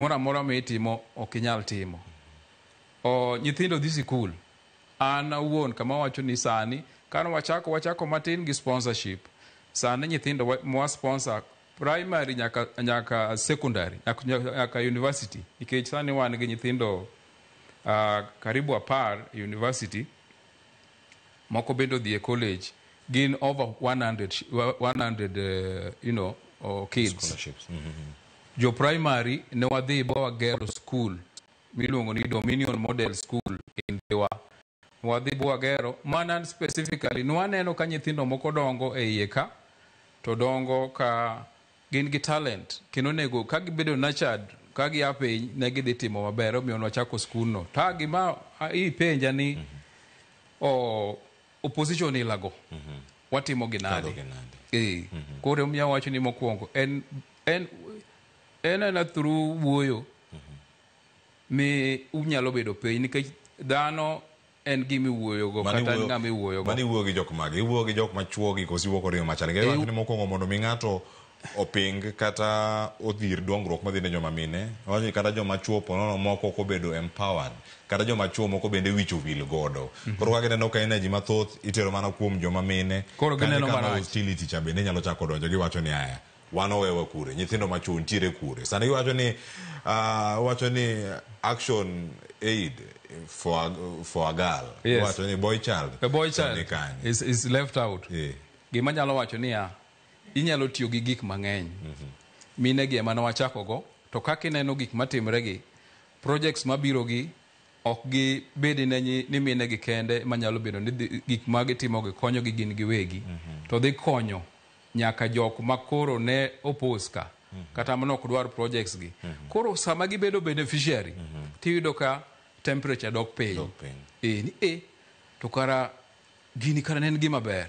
moro amora ma itimo ok inyal timo. O, nyithindo dhi sikul. An awuon kama awacho ni sani, kane wachako, wachako matin gi sponsorship. Sani nyithindo wa- mwa sponsor primary nyaka, nyaka secondary, nyaka, nyaka university. Nikech sani wan gi nyithindo uh, karibu apar e university. Moko bende odhi e college. Gin over 100, sh- wa- 100 eh, you know, oh, kids. Scholarships. Mhm. Jo primary ne wadhi ba wagero school miluongo ni Dominion Model School in Dhiwa. Wadhi ba wagero mana specifically nwaneno ka nyithindo moko dongo e iye ka to dongo ka Gin gi talent kendo onego ka gibedo nurtured ka gia piny ne gidhi timo maber omiyo nwachako skundno. Ta gima a- ipenja ni o, opposition ilago watimo gi nade? Timogi nade? Eh, koro omiyo awacho ni mokwongo en en en ana through wuoyo mi unyalo bedo piny nikech dhano en gima iwuoyogo Mano kata en iwuoyo- ng'ama iwuoyogo mano iwuoyo gi jok mage iwuoyo gi jok machuogi koso iwuoyo kod yo machal Iwu- ngewacho ni mokwongo mondo mi ng'ato oping kata odhir dongruok madhi ne joma mine wacho ni kata joma chuo ponono moko ok obedo empowered kata joma chuo moko bende wich owil godo koro kaka ineno ka energy mathoth itero mana kuom joma mine Koro Kane gineno kama marach. hostility cha bende inyalo chako donjo giwacho ni aya wan owewa kure nyithindo ma chwo ntiere kure sani iwacho ni uh, wacho ni action aid for, a- for a girl Yes. iwacho ni boy child a boy to ni child kanye. is, is left out Eh. gima nyalo wacho niya inyalo tiyo gi gik mang'eny mine gi ema ne wachakogo to kaka ineno gik matimre gi projects mabiro gi ok gi bedi ne nyi- ni mine gi kende manyalo bedo ni dhi- gik ma gitimogi konyogi gin giwegi to dhi konyo nyaka jok ma koro ne oppose ka kata mane ok dwar projects gi koro sama gibedo beneficiary tiyudo ka temperature dok piny Dok piny. eh ni eh to kara gini kara ne en gima ber